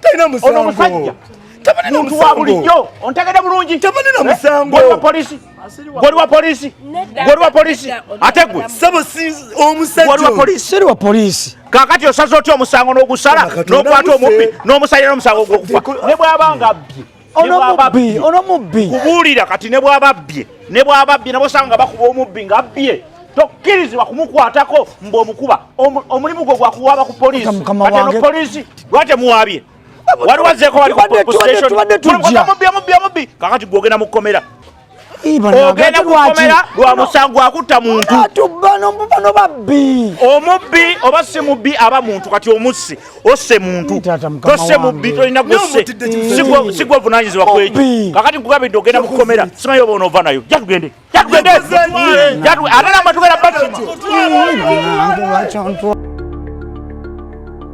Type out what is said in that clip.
talina musango ono musajja tabalina muntu wa bulijjo ontegede bulungi tabalina eh? musango gwe wa polisi gwe wa polisi gwe wa polisi ate gwe sebo si omusajja gwe wa polisi seri wa polisi kakati osaze otya omusango n'ogusala n'okwata omubbi n'omusajja n'omusango ogw'okufa ne bw'aba nga abbye onomubbi kubuulira kati ne bwababbye ne bwababbye nabo sanga nga bakuba omubbi nga abbye tokkirizibwa kumukwatako mbu omukuba omulimu gwo gwakuwaaba ku poliisi kati eno poliisi lwatemuwaabye waliwo azeeko bali ku station mubbi omubbi omubbi kakati gwogenda mu kkomera ogenda kukomera lwa musango akutta muntu bano babbi omubbi oba si mubbi aba muntu kati omussi osse muntu tosse mubbi tolina gosse sigwe ovunanyizibwa kweki kakati nkugambidde ogenda mukukomera simanyi oba onoova nayo jatugende jatugende ate namatugera bakima